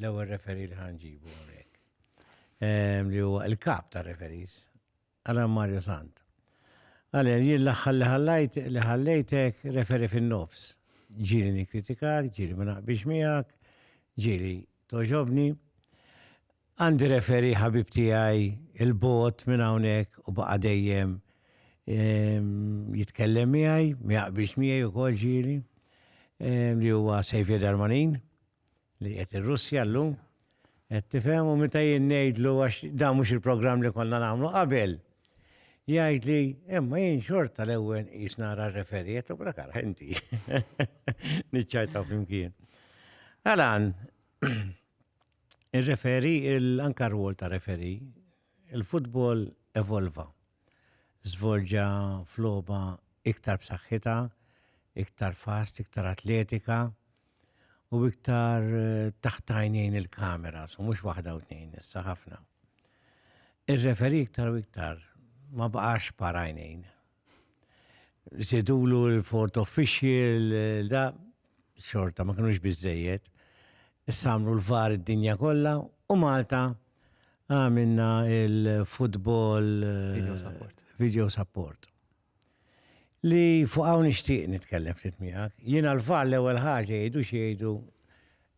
L-ewwel referi li ħanġibu hawnhekk. Ehm, li huwa il-kap ta' referis, Alan Mario Sant. Għalja, jien l-aħħar li ħallajt li ħallejtek referi fin-nofs. Ġieli nikkritikak, ġieli ma naqbix miegħek, ġieli toġobni. Għandi referi ħabib tiegħi il-bot minn hawnhekk u baqa' dejjem ehm, jitkellem miegħi, ma jaqbix miegħi wkoll ġieli ehm, li huwa Sejfja Darmanin. li qed ir-Russja llum, qed tifhem u meta jien ngħidlu għax dan mhux il-programm li konna nagħmlu qabel. Jgħid li, imma jien xorta l-ewwel qis nara r-referiet u brakar ħenti. Niċċajtaw flimkien. Għalan, ir-referi, anka r-rwol ta' referi, il-futbol evolva. żvolġa f'logħba iktar b'saħħitha, iktar fast, iktar atletika u iktar taħt għajnejn il-kamera, so mhux waħda u tnejn, issa ħafna. Ir-referi iktar u iktar ma baqax par għajnejn. Sidulu l-fort official, da, xorta ma kinux biżejjed. Issa għamlu l-var id-dinja kollha u Malta għamilna il-futbol video eh, support. Video support. Li fuq hawn nixtieq nitkellem ftit miegħek. Jiena l-var l-ewwel ħaġa jgħidu x'jgħidu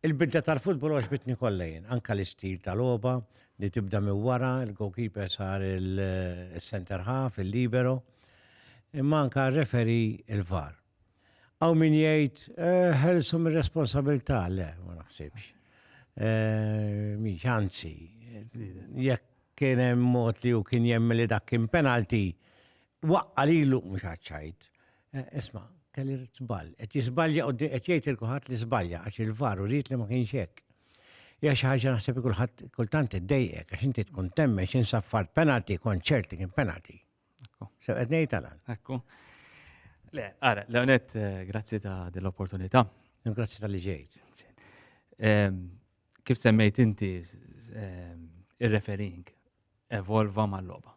Il-bidda tal-futbol għax bitni kollejn, anka l-istil tal-oba li tibda mi wara, il-goalkeeper sar il-center half, il-libero, imma anka referi il-var. Għaw min jgħid, eh, ħelsu mir responsabilità le, ma naħsibx. Eh, Miex, anzi, jekk kien hemm mod li u kien jemmi li dak kien penalti, waqqa li l mhux ħaċċajt. Eh, isma, kelli żball, qed jiżbalja u qed jgħid il-kuħat li żbalja għax il-var u rrit li ma kienx hekk. Ja xi ħaġa naħseb kulħadd kultant iddejjek għax inti tkun temme x'insaffar penalti, konċert li kien penalti. Sew qed ngħid għal. Ekku. Le, ara, Leonet, eh, grazzi ta' dell-opportunità. Grazzi tal-li ġejt. Ehm, kif semmejt inti ehm, ir-referring evolva mal-loba.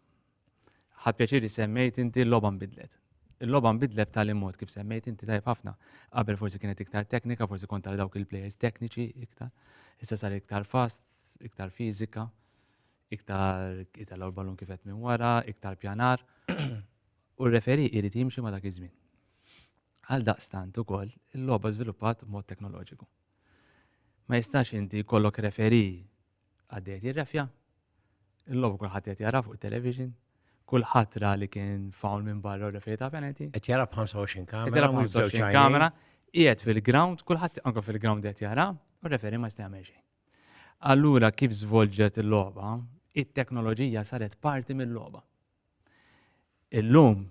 Ħad pjaċiri semmejt inti l-loba nbidlet. Il-loba nbidlet tal mod kif semmejt inti tajb ħafna. Qabel forsi kienet iktar teknika, forsi kont dawk il-players tekniċi iktar. Issa sar iktar fast, iktar fizika. iktar itella l-ballun kifet minn wara, iktar pjanar, u r-referi irid jimxi ma dak iż-żmien. Għal daqstant ukoll il-logħba żviluppat mod teknoloġiku. Ma jistax inti jkollok referi għaddejt jirrefja, il-logħba kulħadd qed jara fuq it-television, kulħadd ra li kien fawl minn barra u referi ta' penalty. Qed jara b'25 kamera. Qed jara b'25 kamera, qiegħed fil-ground, kulħadd anke fil-ground qed jara, u referi ma jista' jagħmel xejn. Allura kif żvolġet il-logħba, it-teknoloġija saret parti mill-logħba. Illum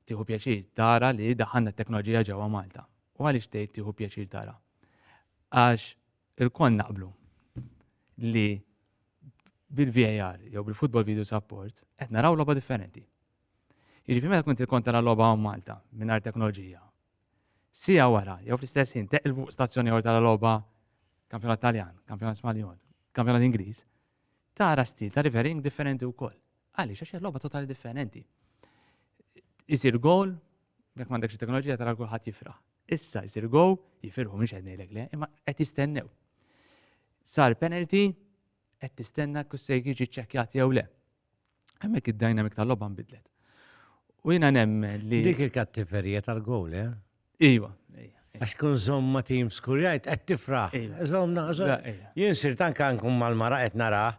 tieħu pjaċir tara li daħanna t-teknoloġija ġewwa Malta. U għaliex tgħid tieħu pjaċir tara? Għax il-kon naqblu li bil-VAR jew bil-football video support qed naraw logħba differenti. Jiġifieri meta kont il-kon tara logħba Malta mingħajr teknoloġija Siegħa wara, jew fl-istess ħin, teqilbu fuq stazzjon ieħor tara logħba kampjonat Taljan, kampjonat Spanjol, kampjonat Ingliż, tara stil ta' refereeing differenti wkoll. Għaliex għax hija logħba totali differenti. Isir goal, jekk m'għandekx it-teknoloġija tara kulħadd jifraħ. Issa jsir go, jifirħu minn xed ngħidlek le, imma qed jistennew. Sar penalty, qed tistenna kus se jiġi ċċekkjat jew le. Hemmhekk id-dynamic tal-logħba nbidlet. U jiena nemmen li. Dik il-kattiferija tal-gowl, eh? Iva. Għax kun zom ma tim skurjajt, għed tifraħ. Zom naħżon. Jien sir tanka nkun mal-mara għed naraħ.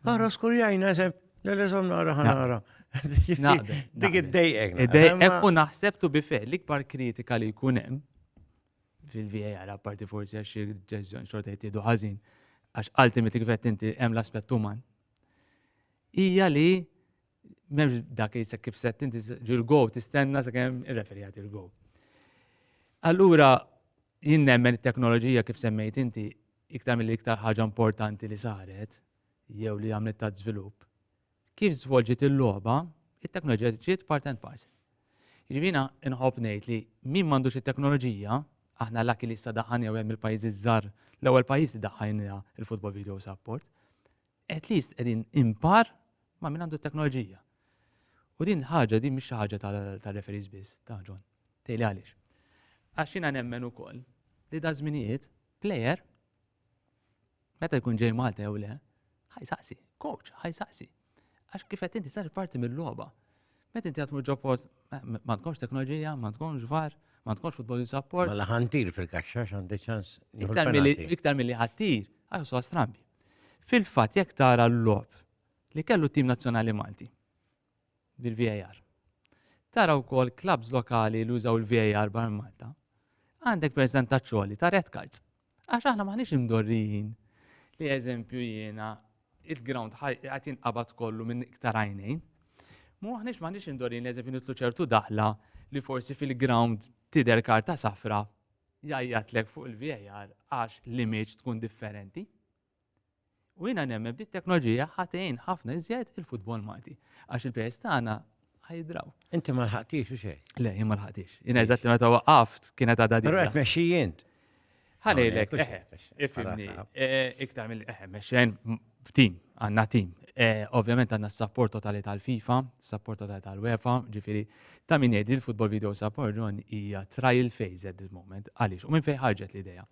Għara skurjajna, zem, l-le zom nara ħanara. Dik id-dejqek. Id-dejqek u naħseb tu bife, l-ikbar kritika li kunem fil-VAR, apparti forsi għax ġezzjon xorta jittidu ħazin, għax ultimately kifet inti hemm l-aspett uman hija li memx dak li kif set inti ġil-go tistenna sakemm irreferjat il-go. Allura jien nemmen it-teknoloġija kif semmejt inti iktar mill iktar ħaġa importanti li saret jew li għamlet ta' żvilupp. Kif żvolġiet il-logħba, it-teknoloġija ġiet part and parcel. Jiġifieri jiena inħobb ngħid li min m'għandux it-teknoloġija, aħna lucky li issa daħħalniha u hemm il-pajjiżi ż-żgħar, l-ewwel pajjiż li daħħalniha l-Football Video Support, at least qegħdin in par ma' min għandu t-teknoloġija. U din il-ħaġa, din mhix xi ħaġa tar-referees biss, ta' John. Tgħidli għaliex. Għax jiena nemmen ukoll li daż-żminijiet plejer Meta jkun ġej Malta jew le, ħajsaqsi, coach, ħajsaqsi. Għax kif qed inti sar parti mill-logħba. Meta inti għatmu ġo post, ma tkunx teknoloġija, ma tkunx var, ma tkunx futbol support. Mela ħantir fil-kaxxa għandi ċans. Iktar mill-li ħattir, għax so strambi. Fil-fatt jekk tara l-lob li kellu tim nazzjonali Malti. bil-VAR. Tara wkoll klabbs lokali li użaw il-VAR barra Malta. Għandek percentaġġ għoli ta' red cards. Għax aħna maħniex imdorrijin li eżempju jiena il-ground għat jinqabad kollu minn iktar għajnejn. Mu għahnix maħniex imdorrijin li eżempju nitlu ċertu daħla li forsi fil-ground tider karta safra jajjatlek fuq il-VAR għax l-image tkun differenti. U jiena nemmen bit teknoloġija ħatejn ħafna iżjed il-futbol Malti. Għax il-pejs tagħna ħajdraw. Inti ma lħaqtix u xej? Le, jien ma lħaqtix. Jiena eżatti meta waqaft kienet għadha din. Però qed mexxi jint. Ħanejlek, eħe, ifimni, eh, iktar mill eħe, mexxen tim, għanna tim. Eh, ovvjament għanna s-sapport totali tal-FIFA, s-sapport totali tal-UEFA, ġifiri, ta' minn jedi l-Football Video Support John hija trial phase at this moment, għalix, u minn fej ħarġet l-ideja.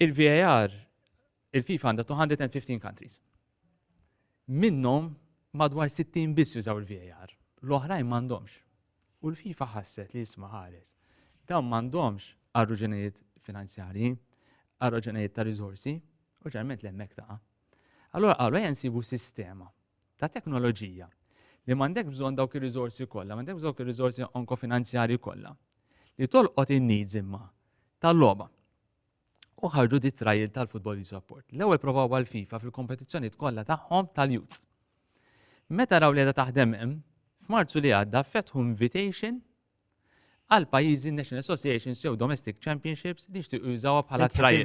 Il-VAR, il-FIFA għandha 215 countries. Minnhom madwar 60 biss jużaw il-VAR. L-oħrajn m'għandhomx. U l-FIFA ħasset li jisma' ħares. Dawn m'għandhomx għarruġenijiet finanzjarji, għarruġenijiet ta' riżorsi, u ġerment l-emmek ta' Allora qalu jensibu sistema ta' teknoloġija li m'għandek bżonn dawk ir-riżorsi kollha, m'għandek dawk ir-riżorsi onkofinanzjarji kollha li tolqot in-needs imma tal-logħba. u ħarġu di trajl tal-Football Youth Rapport. L-ewwel provaw għal-FIFA fil-kompetizzjonijiet kollha tagħhom tal-Youth. Meta raw li taħdem hemm, f'Marzu li għadda fetħu invitation għal pajjiżi National Associations jew Domestic Championships li jixtiequ jużawha bħala trajl.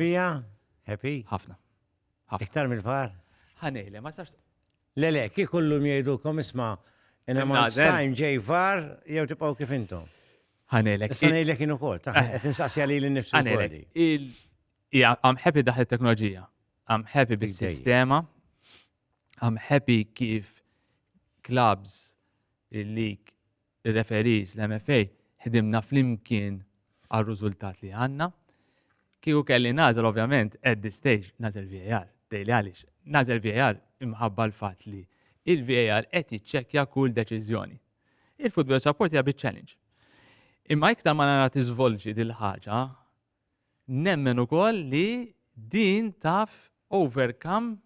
Happy? Ħafna. Iktar mill-far? Ħanejle, ma sax. Le le, kif kollum jgħidukom isma' in a month's time ġej far jew tibqgħu kif intom. Ħanelek. Issa ngħidlek jien ukoll, ta' eh. qed insaqsija li l-nifsu. Ħanelek. Ija, I'm happy daħ il-teknoloġija. I'm happy bis-sistema. I'm happy kif clubs il-lig, il-referis, l-MFA, ħdimna fl-imkien għal-rużultat li għanna. Kieku kelli nazel, ovvjament, at this stage, nazel VAR, dejli għalix. Nazel VAR imħabba l-fat li il-VAR qed jiċċekkja kull deċiżjoni. Il-football support hija bit challenge. Imma iktar ma nara tiżvolġi dil-ħaġa, nemmen ukoll li din taf overcome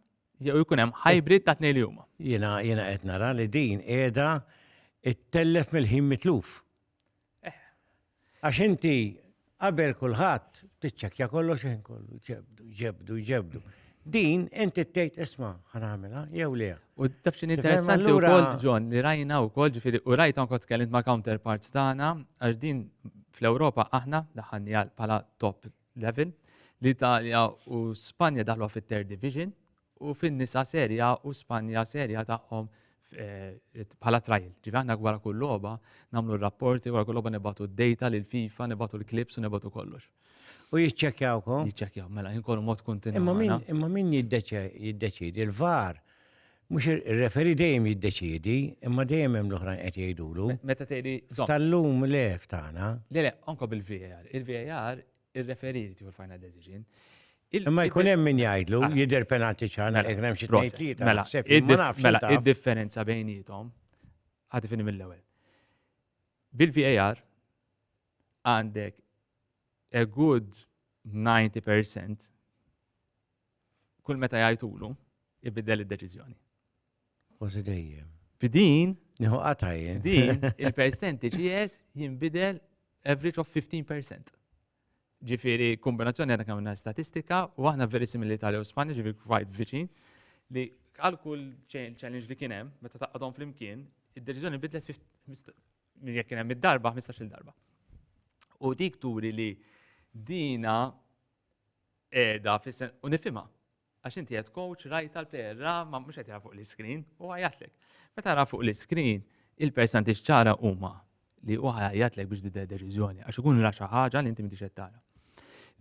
jew ikun hemm hybrid ta' tnejn li huma. Jiena jiena qed nara li din qiegħda ittellef mill-ħin mitluf. Għax inti qabel kulħadd tiċċekkja kollox ħin kollu, ġebdu, ġebdu, ġebdu. Din inti tgħid isma' ħanamilha jew le. U taf x'in interessanti wkoll John li rajna wkoll ġifieri u rajt anke tkellimt ma' counterparts tagħna għax din fl-Ewropa aħna daħanni għal bħala top level li Italja u Spanja daħlu fit-third division u fin-nisa Serie A u Spanja Serie A tagħhom bħala trial. Ġifieri aħna wara kull logħba nagħmlu r-rapporti, wara kull logħba nibgħatu d-data lil FIFA, nibgħatu l-klips u nibgħatu kollox. U jiċċekkjawkom? Jiċċekkjaw, mela jinkollu mod kontinwu. Imma min imma min jiddeċidi l-var mhux ir-referi dejjem jiddeċidi, imma dejjem hemm l-oħrajn qed jgħidulu. Meta tgħidi tal-lum le f'tagħna. Le le, anke bil-VAR. Il-VAR Ir-referee jrid jieħu l-final decision. Imma jkun hemm min jgħidlu, jidher penalti ċar, mela, jkun hemm xi tnejn tlieta. Mela, mela, mela id-differenza bejnietom ħadd ifini mill-ewwel. Bil-VAR għandek a good 90% kull meta jgħidulu ibiddel id-deċiżjoni. Kważi dejjem. F'din, nieħu qata jien. F'din, il-percenti ġiet jinbidel average of 15%. Ġifieri kombinazzjoni għadha kemm statistika u aħna veri simili tal u Spanja ġifieri quite viċin li għal kull challenge li kien hemm meta taqgħadhom flimkien, id-deċiżjoni bidlet minn jekk kien hemm id-darba 15-il darba. U dik turi li dina qiegħda fis-sen u nifhimha Għax inti qed coach rajta l-player ra ma mhux qed jara fuq l-iskrin u għajatlek. Meta ra fuq l-iskrin il-percentages ċara huma li huwa ħajjatlek biex tibda deċiżjoni għax ikun ra xi ħaġa li inti m'intix qed tara.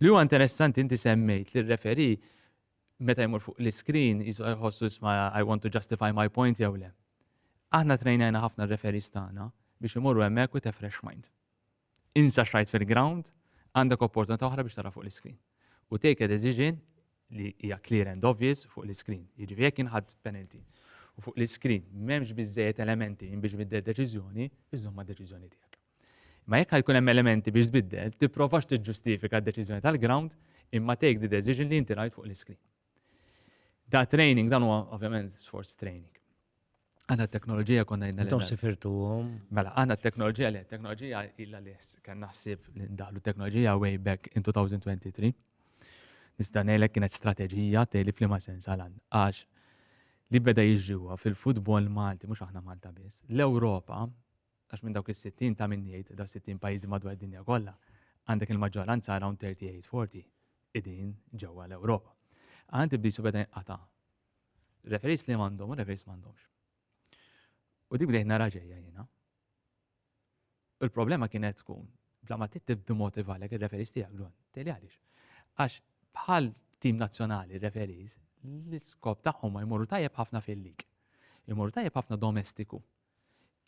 Li huwa interessanti inti semmejt li r-referi meta jmur fuq l-iskrin jisu jħossu isma' I want to justify my point jew le. Aħna trejnajna ħafna r-referis tagħna biex imorru hemmhekk with a fresh mind. Insa x'rajt fil-ground, għandek opportunità oħra biex tara fuq l-iskrin. U take a decision li hija clear and obvious fuq l-iskrin. Jiġifieri jekk inħadd penalty u fuq l-iskrin m'hemmx biżżejjed elementi biex biddel deċiżjoni, iżżomm mad-deċiżjoni tiegħek. Imma jekk ħajkun hemm elementi biex tbiddel, tipprovax tiġġustifika d-deċiżjoni tal-ground imma take the decision li inti rajt fuq l-iskrin. Da training, dan huwa ovvjament sforz training. Għanna t-teknoloġija konna jidna. Tom sifirtu għom. Mela, għanna t-teknoloġija li, t-teknoloġija illa li kan naħsib li ndaħlu t-teknoloġija way back in 2023. Nista' ngħidlek kienet strateġija tgħidli f'liema sens għal għax li beda jiġriwa fil-futbol Malti, mhux aħna Malta biss, l-Ewropa Għax minn dawk is-sittin ta' min jgħid dawn is-sittin pajjiżi madwar id-dinja kollha, għandek il-maġġoranza around 38, 40 qegħdin ġewwa l-Ewropa. Għand iblisu beda jinqata' referees li m'għandhom u referees m'għandhomx. U dik bdejt nara ġejja jiena. U l-problema kienet tkun bla ma tittib dimotiva għalek il-referis tijak ġon. Teli għalix. Għax bħal tim nazjonali referis, l-iskop taħħom ma jmorru tajjeb ħafna fil-lig. Jmorru tajjeb ħafna domestiku.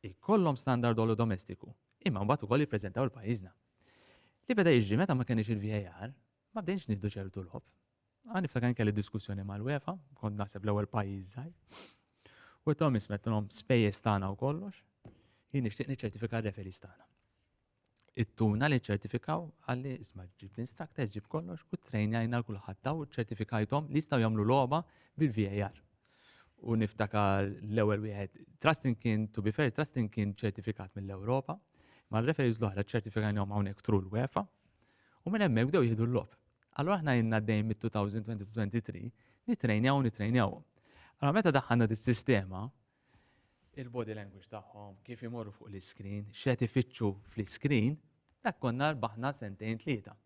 ikollhom standard għolu domestiku, imma mbagħad ukoll jippreżentaw il pajjiżna. Li beda jiġri meta ma kenniex il-VAR, ma bdejniex nieħdu ċertu lob. Għan niftakar kelli diskussjoni mal-UEFA, kont naħseb l-ewwel pajjiż żgħir. U tom ismetlhom spejjeż tagħna u kollox, jien nixtieq niċċertifika r-referis tagħna. Ittuna li ċċertifikaw għalli isma' ġib l-instructors, ġib kollox u trejnjajna l-kulħadd daw ċċertifikajthom li jistgħu jagħmlu logħba bil-VAR. U niftakar l-ewwel wieħed Trustin kien to be fair Trustin kien ċertifikat mill-Ewropa, ma l-referees l-oħra ċċertifikajnhom hawnhekk tru l-UEFA u minn hemmhekk bdew jieħdu l-logħob. Allura aħna jenna dejjem mit-2023 nitrejnjaw u nitrejnjawhom. Allora meta daħħalna dis-sistema, il-body language tagħhom, kif imorru fuq l-iskrin, x'qed ifittxu fl-iskrin, dak konna rbaħna sentejn tlieta.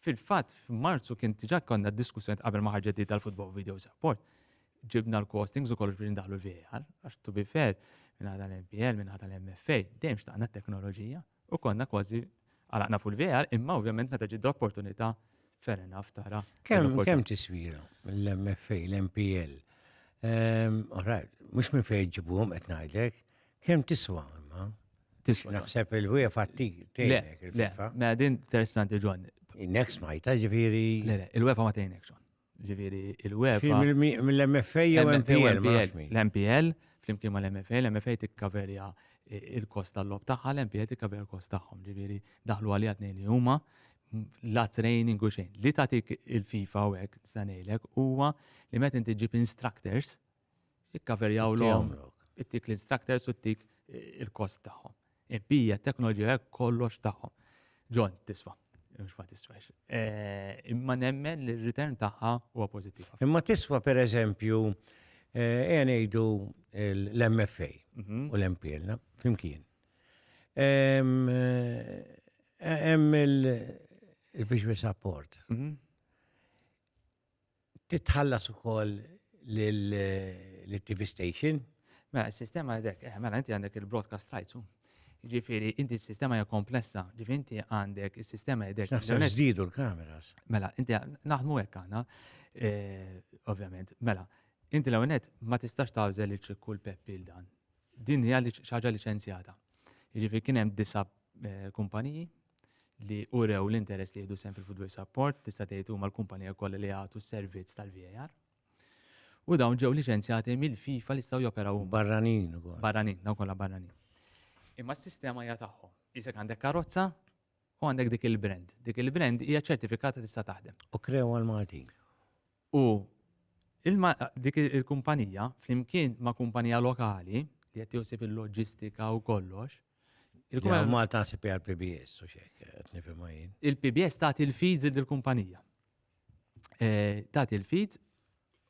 Fil-fatt f'Marzu kien diġà konna diskussjoni qabel ma ħarġet di tal-Football Video Support. Ġibna l-costings u kollox biex ndaħlu l-VAR, għax to be fair, minn ħata l-MPL, minn ħata l-MFA, dejjem xtaqna t-teknoloġija. U konna kważi għalaqna fuq il-VR, imma ovvjament meta ġid opportunità fair enough tara. Kemm kemm tiswira l-MFA, l-MPL? Ehm, Alright, mhux minn fejn ġibuhom qed ngħidlek, kemm tiswa imma? Tiswa. Naħseb il-wieħed fatti tgħinek il-FIFA. Ma din interessanti ġon. Next smajta ġifieri. Le, il-wefa ma tgħinek ġon. ġifieri il-UEFA. Mill-MFA jew MPL? L-MPL, flimkien ma l-MFA, l-MFA tikkaverja il-kost tal-lob tagħha, l-MPL tikkaverja il-kost tagħhom, ġifieri daħlu għalija tnejn li huma la training u xejn. Li tagħtik il-FIFA u hekk stanejlek huwa li meta inti ġib instructors, Ikkaverjaw l-om, ittik l-instructors u ittik il-kost tagħhom. Impija, teknoloġija, kollox tagħhom. John, tiswa. Mux ma tiswax. Eh, imma nemmen li r-return tagħha huwa pożittiv. Imma tiswa per eżempju, eh, ngħidu l-MFA mhm. u l-MPL, flimkien. Eh, hemm il-biex support. Mhm. Titħallas ukoll lill-TV station? Mela, s-sistema għadek, eh, mela, inti għandek il-broadcast rights, u. Ġifiri, inti s-sistema hija komplessa, ġifiri, inti għandek is-sistema għadek. Naħseb żdiedu l-kameras. Mela, inti naħdmu hekk aħna, eh, ovvjament, mela, inti l-għonet ma tistax tawżel il-ċikku l-peppi l-dan. Din hija xi ħaġa liċenzjata. Jiġifieri kien hemm disa' eh, kumpaniji li urew l-interess li jieħdu sem fil-footwear support, tista' tgħid huma l-kumpanija kollha li jagħtu s-servizz tal-VAR. U dawn ġew liċenzjati mill-FIFA li jistgħu joperaw huma. Barranin ukoll. Barranin, dawn kollha barranin. Imma s-sistema hija tagħhom. Isek għandek karozza u għandek dik il-brand. Dik il-brand hija ċertifikata tista' taħdem. U krew għal Maltin. U ilma dik il-kumpanija flimkien ma' kumpanija lokali li qed tieħu ħsieb il-loġistika u kollox, il-kumpanija. Ma taħseb hija l-PBS u xek, qed nifhimha jien. Il-PBS tagħti l-feeds il kumpanija Tagħti l-feeds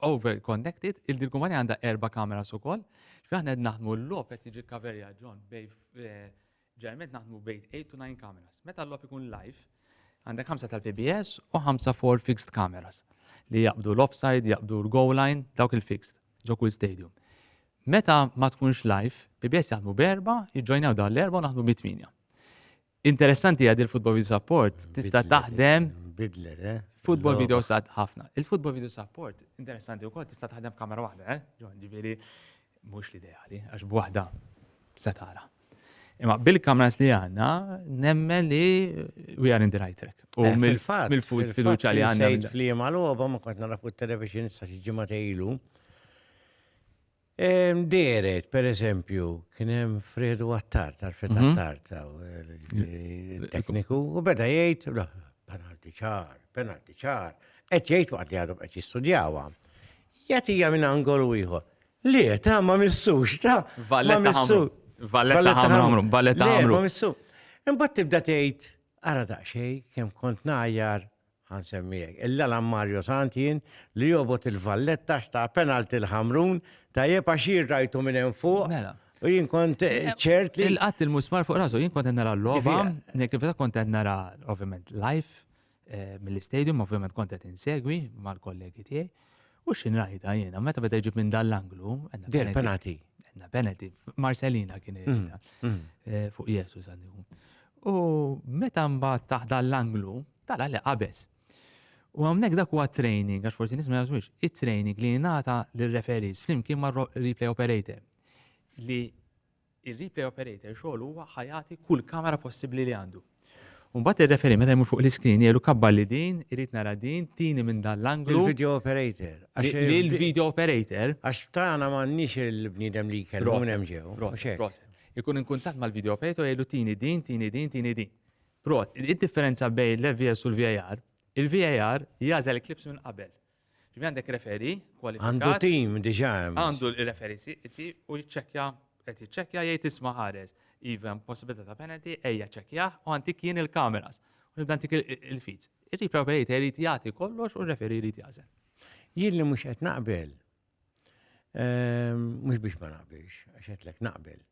over connected, il-kumpanija għandha erba' kameras ukoll, x'aħna qed naħdmu l-logħob qed jiġi kaverja ġon bej Ġeneralment naħdmu bejn eight to nine cameras. Meta l-logħob ikun live, għandek ħamsa tal-PBS u ħamsa four fixed cameras li jaqbdu l-offside, jaqbdu l-goal line, dawk il-fixed ġo kull stadium. Meta ma tkunx live, PBS jaħdmu b'erba, jiġġojnaw dan l-erba u naħdmu bi tminja. Interessanti għad il-Football Video Support tista' taħdem Bidlet, eh? Football video sad ħafna. Il-football video support, interessanti u kol, tista taħdem kamera wahda, eh? Ġifieri, Mhux l-ideali, għax b'waħda se tara. Imma bil-kameras li għandna, nemmen li we are in the right track. U eh, mill-fatt, mill-fut fiduċa li għandna. Sejt fl-jema l-għoba, ma kont nara fuq television sa xi ġimgħa tejlu. Deret, per eżempju, kien hemm Fredu Attard, għarfet mhm. Attard, eh, tekniku, u beda jgħid, penalti ċar, penalti ċar, qed jgħid waqt li għadhom qed jistudjawha. Jagħtija minn angolu ieħor. Le, ta' ma missux, ta' Valletta ħamru. Valletta ħamru, valletta ħamru. Ma missu. Imbagħad tibda tgħid, ara daqsxej kemm kont ngħajjar ħansemmijek. Il-lala Mario Santin li jobot il-valletta xta' penalti l-ħamrun ta' jeb għaxir rajtu minn hemm fuq. Mela. U jien kont eh, eh, ċert li. Il-qatt il-musmar fuq rasu, jien kont nara l-loba, kif kont nara, ovvjament, live, Eh, mill-istadium, ovvjament kont qed insegwi mal-kollegi tiegħi. U xin rajta jiena, meta beda jġib minn dal-anglu. Dir penalty. Għanna penalty. Marcelina kien mm, irrita mm. eh, fuq Jesu sandikum. U meta mbagħad taħt dal-anglu, tara li qabes. U għamnek dak huwa training, għax forsi nisma jazwix, it-training li jenata l-referis flimkien ma' replay operator li ir-replay operator xogħlu huwa ħa jagħti kull kamera possibbli li għandu. U mbagħad ir-referee meta jmur fuq l-iscreen jgħidlu kabbarli din, irrid nara din, tieni minn dan l-anglu. Lill-video operator. Lill-video operator. Għax f'tagħna m'għandniex il-bniedem li jkellmu minn hemm ġew. Proset, proset. Ikun in kuntatt mal-video operator jgħidlu tieni din, tieni din, tieni din. Prot, id-differenza bejn l-FVS u l-VAR, il-VAR jażel il-klips minn qabel. Ġifieri għandek referi kwalifikat. Għandu tim diġà hemm. Għandu referi siqti u jiċċekkja qed jiċċekkja jgħid isma' ħares. Iva possibilità ta' penalty, ejja ċekkjah u għantik jien il-kameras. U nibda għantik il-feeds. Ir-replay operator jrid jagħti kollox u r-referi jrid jażel. Jien li mhux qed naqbel, ehm, mhux biex ma naqbilx, għax qed lek naqbel.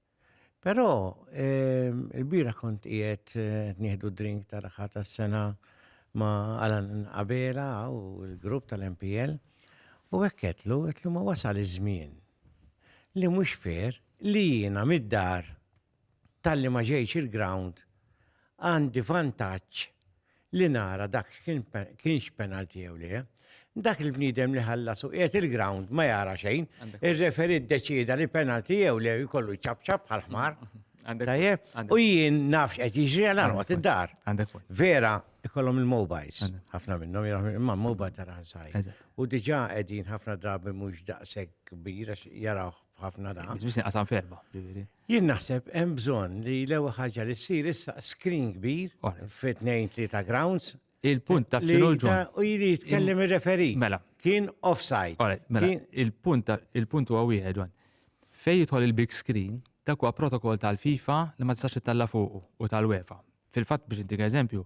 Però il-bieraħ kont qiegħed nieħdu drink ta' raħħa tas-sena ma' Alan Abela u l-grupp tal-MPL u hekk qedlu qedlu ma wasal iż-żmien li mhux fair li jiena mid-dar talli ma ġejtx il-ground għandi vantaġġ li nara dak kienx penalti jew le, dak il-bniedem li ħallas u qiegħed il-ground ma jara xejn, ir-referi ddeċieda li penalti jew le jkollu jċabċab bħal ħmar. Tajjeb, u jien nafx qed jiġri għal anqod id-dar. Vera, ikollhom il-mobiles, ħafna minnhom jaraħ imma mobile tara sajn. U diġà qegħdin ħafna drabi mhux daqshekk kbir għax jarawh ħafna daqs. Biss inqasam ferba. Jien naħseb hemm bżonn li l-ewwel ħaġa li ssir issa screen kbir fi tnejn tlieta grounds. Il-punt ta' xinu l-ġon. U jiri jitkellem ir-referi. Mela. Kien offside. Alright, mela. Il-punt il-punt huwa wieħed wan. Fej jidħol il-big screen, dak huwa protokoll tal-FIFA li ma tistax ittella fuqu u tal-UEFA. Fil-fatt biex intik eżempju,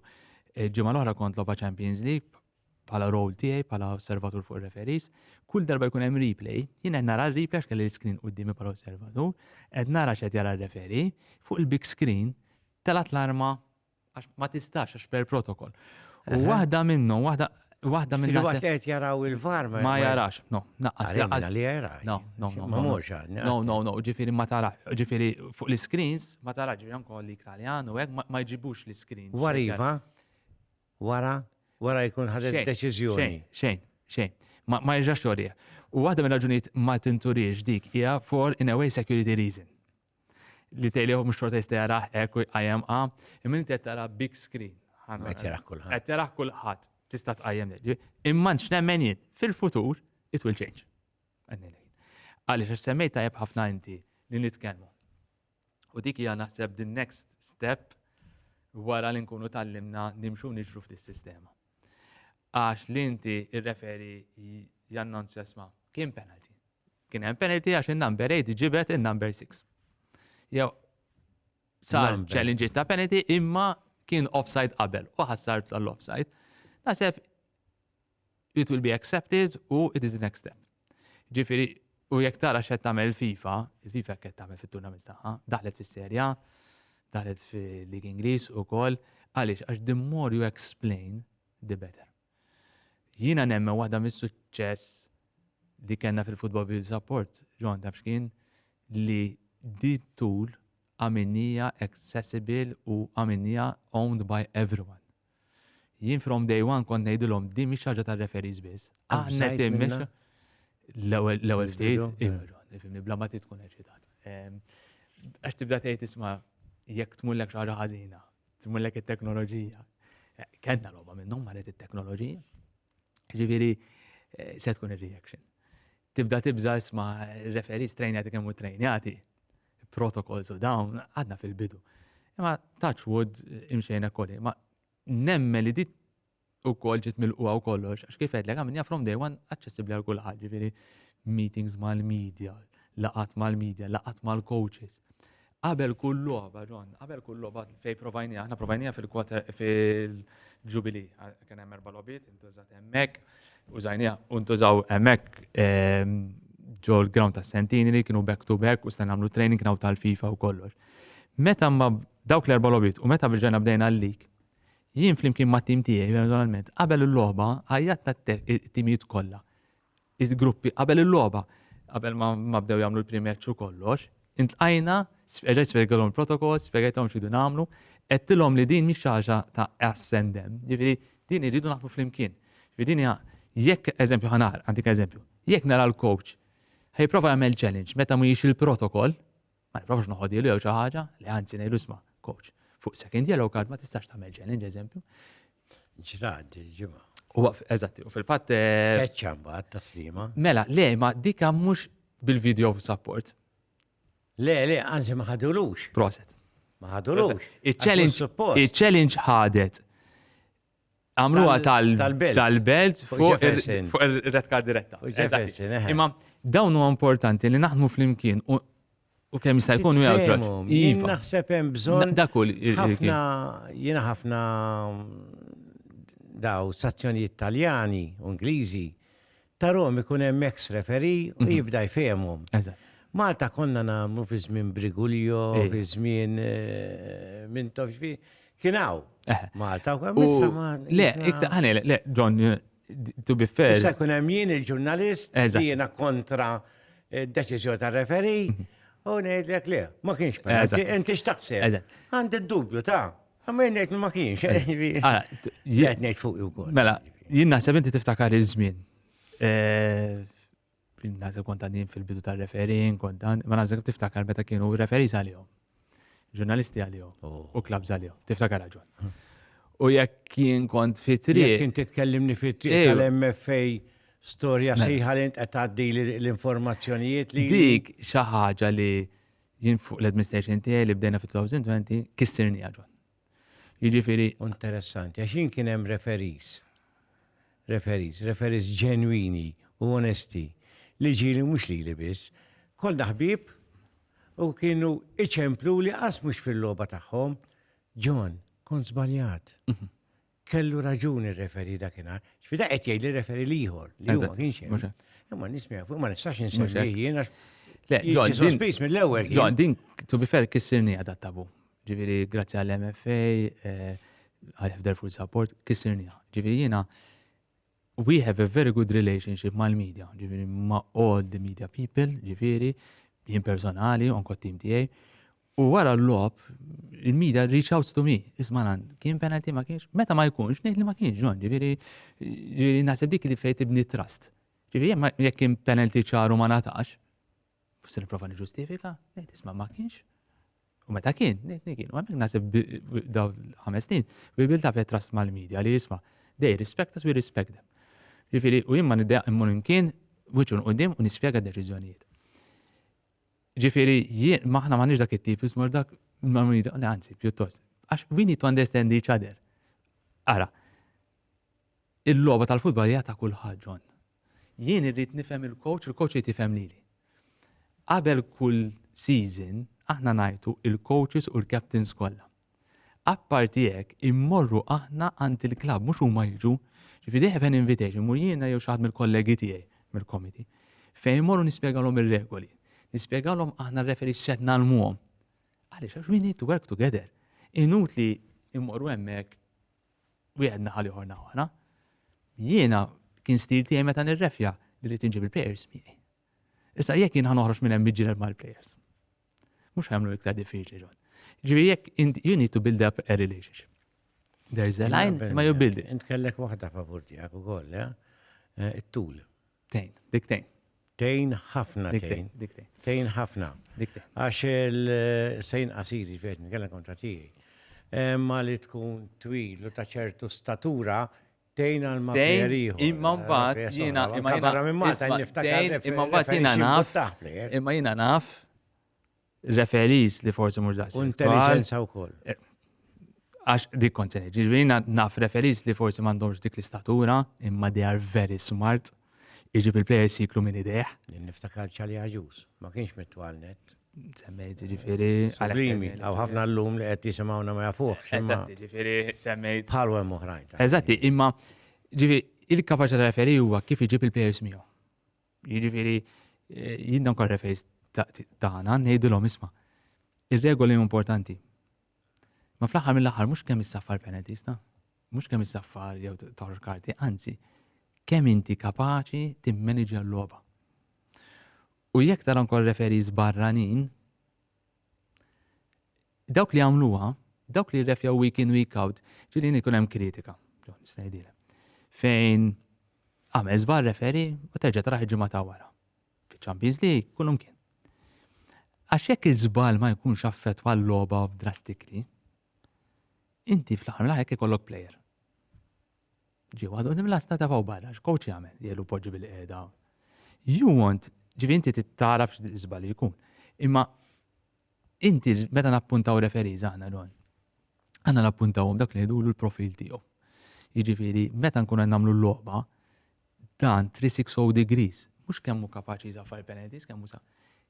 ġimgħa l-oħra kont loba Champions League, bħala role tiegħi bħala osservatur fuq referees, kull darba jkun hemm replay, jien qed nara r-replay għax kelli l-screen qudiemi bħala osservatur, qed nara x'qed jara r-referi, fuq il-big screen telgħet l-arma għax ma tistax għax per protokol. U waħda minnhom, waħda Waħda minn Waħda qed jaraw il-var ma jarax, no, naqqas jarax. Li jara. No, no, no. Ma mhux No, no, no, ġifieri ma tara, ġifieri fuq l-screens ma tara ġifieri ankoll li Italjan u hekk ma jġibux l-screen. Wariva? Wara? Wara jkun ħadet deċiżjoni. Xejn, xejn, xejn. Ma, ma jerġax lorija. U waħda minn raġunijiet ma tinturiex dik hija for in a way security reason. Li tejliħu mhux xorta jista' jaraħ hekk u jqajjem qa, imma inti qed tara big screen. Qed jaraħ kulħadd. Qed jaraħ kulħadd. Tista' tqajjem li. Imma nxnemmen jien fil-futur it will change. Għaliex għax semmejt tajjeb ħafna inti li nitkellmu. U dik hija naħseb the next step wara li nkunu tallimna nimxu nixru f'dis sistema. Għax li inti irreferi jannonzja sma, kien penalty. Kien hemm penalty għax in-number 8 ġibet in-number 6. Jew sar challenge ta' penalty imma kien offside qabel u ħassar tal-offside. Naħseb it will be accepted u it is the next step. Ġifiri, u jek tara xed tamel FIFA, il-FIFA kett tamel fit-turnament taħħa, daħlet fis-serja, daħlet fil-Lig Inglis u kol, għalix, għax the more you explain, the better. Jina nemme waħda mis suċċess li kena fil-football video support, ġon tabxkin, li di tool għaminija accessible u għaminija owned by everyone. Jien from day one kont ngħidilhom din mhix ħaġa ta' referees biss. Aħna timmix l-ewwel ftit, ifimni bla ma tkun eċitat. Ehm, għax tibda tgħid isma' jekk tmullek xi ħaġa ħażina, tmullek it-teknoloġija. Kenna logħba minnhom maret it-teknoloġija. Ġifieri eh, se tkun ir-reaction. Tibda tibża isma' referis trejnjati kemm u trejnjati, protokols u dawn, għadna fil-bidu. Imma touch wood imxejna kolli, ma nemmen li dit u kol ġit mil u kollox, għax kif għedlek għamilja from day one accessibli għal kulħadd, ġifieri meetings mal-media, laqat mal-media, laqat mal-coaches. Qabel kull logħba, John, qabel kull logħba fejn provajnija, aħna provajnija fil-quarter fil-ġubili, kien hemm erba' logħbiet, intużat hemmhekk, użajnija, untużaw hemmhekk ehm, ġo l-ground ta' Sentini li kienu back to back u stan nagħmlu training naw tal-FIFA u kollox. Meta ma dawk l-erba' logħbiet u meta bieġajna bdejna l-lik, jien flimkien ma' tim tiegħi personalment, qabel il-logħba ħajjatna t-timijiet kollha il-gruppi qabel il-logħba, qabel ma bdew jagħmlu l-pre-match u kollox, intlqajna, reġgħet spjegalhom il-protokoll, spjegajthom x'ridu nagħmlu, għedtilhom li din mhix xi ħaġa ta' us and them, jiġifieri din irridu naħdmu flimkien. Jiġifieri din hija jekk eżempju ħanar, għandik eżempju, jekk nara l-coach ħajprova jagħmel challenge meta mhijiex il-protokoll, Ma nipprovax noħodhielu jew xi ħaġa, le anzi ngħidu isma' coach, fuq second yellow card ma tistax tagħmel challenge eżempju. Ġrad il-ġimgħa. U eżatti, u fil-fatt. Eh, Tkeċċa mbagħad taslima. Mela, le, ma dika mhux bil-video of support. Le, le, anzi ma ħadulux. Proset. Ma ħadulux. Il-challenge ħadet għamluha tal-belt fuq ir-red card diretta. Imma dawn huwa importanti li naħdmu flimkien u kemm jista' jkun u jgħid. Iva. Naħseb hemm bżonn. Dak kull. Ħafna jiena ħafna daw sazzjonijiet Taljani u Ingliżi Tarom ikun hemm ex referee u mhm. jibda jfehmhom. Malta konna nagħmlu fi żmien Brigulio, eh. fi żmien eh, minn tofx fi kien hawn. Eh. Malta u hemm Le, iktar ħane, le, John, to be fair. Issa kun hemm jien il-ġurnalist li jiena kontra d-deċiżjoni tar-referi mhm. u ngħidlek le, ma kienx penalti, inti x'taħseb. Għandi d-dubju ta' Għamil nejt ma kienx, eh, ah, jgħet nejt fuq u kol. Mela, jien naħseb inti tiftakar iż-żmien. Eh, naħseb kont għandin fil-bidu ta' referin, kont dan, ma naħseb tiftakar meta kienu referi għalihom. Ġurnalisti għalihom oh. u klabs għalihom. Tiftakar raġun. Hm. U jekk kien kont fitri. Jekk kien titkellimni fitri tal-MFA storja mela. sejħa li qed tgħaddi l-informazzjonijiet li. Dik xi ħaġa li Jien fuq l-administration tiegħi li bdejna fit-2020 kissirniha ġon. Jiġifieri. Interessanti, għax jien kien hemm referees, referees, referees ġenwini u onesti li ġieli u mhux lili biss. Konna ħbieb u kienu iċempluli qas mhux fil-logħba tagħhom, Ġon, kont żbaljat. kellu raġuni r-referi dakinhar. X'fida qed jgħid li referi l-ieħor li huwa ma kienx hemm. Imma nismi fuq ma nistax insemmi jien għax. Le, John, sospiż mill-ewwel. John, din to be fair kissirni għadha tabu. Ġifieri grazzi għall-MFA, eh, I have their full support, kissirni. Ġifieri jiena We have a very good relationship mal-media, ġifieri ma' all the media people, ġifieri jien personali, onko t-tim tiegħi. U wara l-lob, il-media reach out to me, isma' kien penalty ma kienx, meta ma jkunx, ngħid li ma kienx ġon, ġifieri ġifieri naħseb dik li fejn tibni trust. Ġifieri jekk kien penalty ċaru ma natax, Fussi niprofa niġustifika, nejt isma ma kienx. U meta kien, nejt kien. U għamek nasib daw ħames snin, u bil taf trust mal-medja li jisma, they respect us, we respect them. Ġifiri, u jimma niddeq immur imkien, wiċun u dim, u nispiega deċizjonijiet. Ġifiri, jien, maħna ma dak it-tip, jismur dak, ma medja, anzi, pjuttost. Għax, we need to understand each other. Ara, il-loba tal-futbol hija ta' kulħadd ġon. Jien irrid nifhem il-coach, il-coach irid jifhem lili. Qabel kull season aħna ngħajtu il-coaches u l-captains kollha. Apparti hekk, immorru aħna għand il-klabb, mhux huma jiġu. Ġifieri they have an invitation, immur jiena jew xi ħadd mill-kollegi tiegħi mill-committee. Fejn immorru nispjegalhom ir-regoli. Nispjegalhom aħna r-referees x'qed nagħlmuhom. Għaliex għax we need to work together. Inutli immorru hemmhekk wieħed naħa l-ieħor naħa oħra. Jiena kien stil tiegħi meta nirrefja li rrid inġib il-players miegħi. Issa jekk jien ħanoħroġ minn hemm miġġielel mal-players. Mhux ħemlu iktar diffiċli ġon. Ġifieri jekk you need to build up a relationship. There's a line ma you build it. Int kellek waħda favur tiegħek ukoll, eh? eh it-tul. Tgħin, dik tgħin. Tgħin ħafna tgħin. Dik tgħin. Tgħin ħafna. Dik tgħin. Għax il-sejn qasir, ġvejt nitkellem kontra tiegħi. Ma li tkun twil u ta' ċertu statura tgħin għal ma Imma mbagħad jiena imma jiena barra minn Malta niftakar. Imma mbagħad jiena naf. Imma jiena naf referees li forsi mhux daqshekk. Intelligenza wkoll. Eh, għax dik kont se jiġri naf referees li forsi m'għandhomx dik l-istatura, imma they are very smart. Iġib il-players jiklu minn ideħ. Niftakar ċali għaġus, ma kienx mitwal net. Semmejt, ġifiri. Għalimi, għaw ħafna l-lum li għet jisimawna ma jafuħ. Eżatti, ġifiri, semmejt. Bħal għem uħrajn. Eżatti, imma, ġifiri, il-kapacita referi huwa kif iġib il-players miegħu. Jiġifieri eh, jien dawn refejs tagħna ngħidilhom isma' ir-regoli importanti. Ma fl-aħħar mill-aħħar mhux kemm issaffar penalties ta' mhux kemm issaffar jew toħroġ karti, anzi kemm inti kapaċi timmanage l-logħba. U jekk tara nkor referi barranin, dawk li għamluha, dawk li refjaw week in week out, ġilin ikun hemm kritika. Fejn għamel żbar referi u terġa' traħi ġimgħa ta' wara. Fiċ-Champions League kullum kien. Għax jekk iż-żbal ma jkunx affettwa l-logħba drastikli, inti fl-aħħar mill-aħħar ikollok plejer. Ġi waħda u nimla stata faw barra, x'coach jagħmel? Jgħidu poġġi bil-qiegħda. You want, ġifi inti tittaraf x'żbal jkun. Imma inti meta nappuntaw referiż aħna don. Aħna nappuntawhom dak li jgħidulu l-profil tiegħu. Jiġifieri meta nkun qed nagħmlu l-logħba, Dan 360 degrees, mhux kemm hu kapaċi jżafar il-penalties, kemm hu